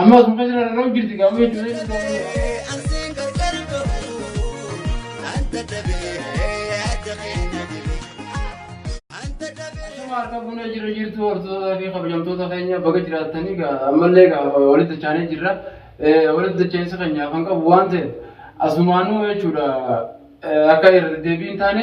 Amma osuma keessa rarra'u jirti gaamuu jechuudha jechuudha. Anteen gargar bahu anta dhabee adda keenya dibee anta dhabee. Akkuma harka fuunee jirra jirtu hordoftoota fi kabajamtoota keenya baga jiraatanii egaa ammallee egaa walitti dachaanee jirra. Eh, Walitti dachaansa keenyaaf kan qabu waan ta'eef asumaanuu jechuudha eh, akka irra deebiin taane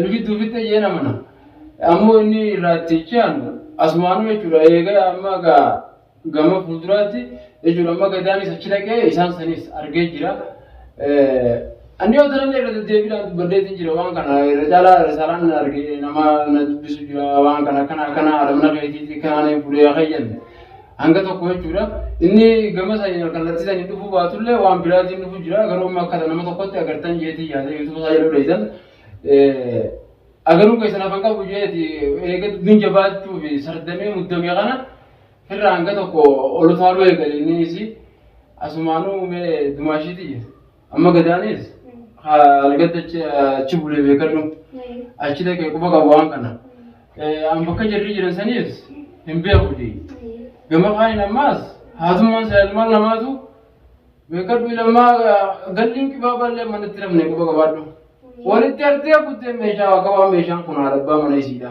nu jidduu fidde jeen amana. Ammoo inni irraa itti ci'anu asumaanuu jechuudha eega amma gaa gama fuulduraatti jechuudha amma gadaanis achi dhaqee isaan sanis argee jira. Anni yoo tanallee irra deddeebiidhaan dubbadheetiin jira waan kana irra caalaa risaalaan argee nama na dubbisu jira waan kana akkana akkana alamna keetiitti kanaan fuudhee akka jennu. Hanga tokko jechuudha. Inni gama saniin alkallattii saniin dhufuu baatullee waan biraatiin dhufu jira. Garuu amma akkata nama tokkotti agartan jeetii yaada yuutuuba isaa jedhu dheeysan. Agaruu keessan afaan qabu jeeti eega dubbiin jabaachuu fi sardamee muddamee kana irraa hanga tokko ol utaaluu eegale inni isi asumaanuu mee dumaashiitii jeeti. Amma gadaanis algatti achi achi bulee beekadhu achi dhaqee quba qabu waan kana. Eh, An bakka jarri jiran saniis hin beekuti. Gama kaaniin ammaas haatummaan isaa ilmaan lamaatu beekadhu ilmaa galliin qibaabaa illee manatti rafne quba qabaadhu. Walitti artee kuttee meeshaa akka waan meeshaan kun haadha abbaa mana isiidha.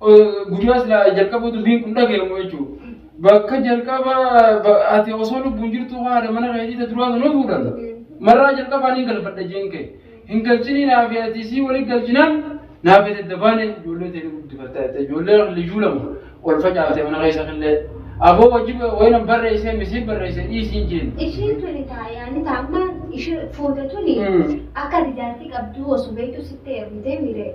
Guyyaa silaa jalqaba dubbiin kun dhaga'amu jechuudha. Bakka jalqaba ati osoo lubbuun jirtu haadha mana keetii ta duraa sanuu fuudhan. Marraa jalqabaa ni galfadha jeen kee. Hin galchinii naa fi ati sii waliin galchinaan naa fi ati dabaanee ijoollee ta'e guddifattee ati ijoollee liyyuu lama ol facaafte mana keessa killee. Aboo wajji wayina barreessee misiin barreessee dhiisiin jeen. Ishiin tuni taayaan taamma ishee fuute tuni akka rijaartii qabduu osoo beektu sitti ergitee miiree.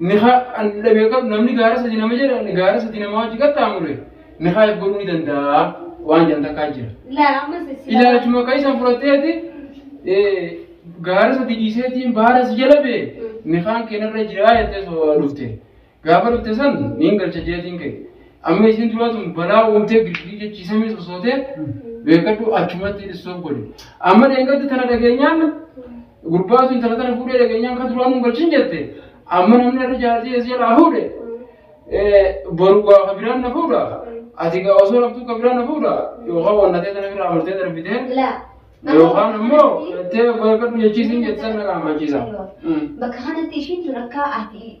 Nikaa dhabe qabu namni gaara sadi nama jedha gaara sadi nama wajji qaxxaamure nikaa eeggaluu ni danda'a waan jedhan takkaa jira. Laa ammas isin. Ilaalchuma kan isaan fudhatteeti gaara sadi dhiiseetiin baara si jala bee nikaan keenarra jiraa jettee soo dhufte. Gaafa dhufte san niin galcha jeetiin kee. Amma isin duraa tun balaa uumtee girgii jechiisamee sosootee beekadhu achumatti dhissoo godhe. Amma dheengaddi tana dhageenyaan Gurbaa sun intala tana fuudhee dhageenyaan kan duraan nu galchin jette amma namni irra jaartii eessa jalaa fuudhe boru gaafa biraan na fuudha ati gaa osoo laftuu ka biraan na fuudha yookaan wannatee tana biraa amartee darbitee Laa. yookaan immoo jettee bargadhu jechiisiin jettan na qaamachiisa. Bakka kanatti ishiin tun akka ati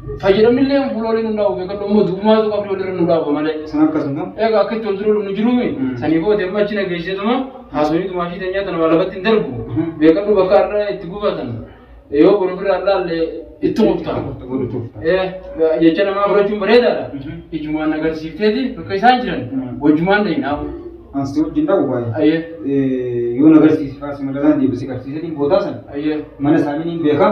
Fayyadamni illee fuula waliin hundaa'u beekadhu ammoo du'umaatu qabdi walirra nu dhaabu malee. Sana akkasuma. Egaa akka itti wal dura dhumnu jiruumi. Sanii booda amma achi nageesseetuma haasofni tumaashii teenyaa tana waa lafatti hin darbu. Beekadhu bakka har'a itti gubatan yoo boru ofirraa hin laalle itti murtaa. Jecha namaa fudhachuun bareedaadha. Ijumaan agarsiifteeti bakka isaan jiran wajjumaan dhahinaa. Ansi wajjin dhahu baay'ee. Yoo nagarsiise faarsi madalaan deebisee garsiisee boodaa sana mana isaanii ni beekaa.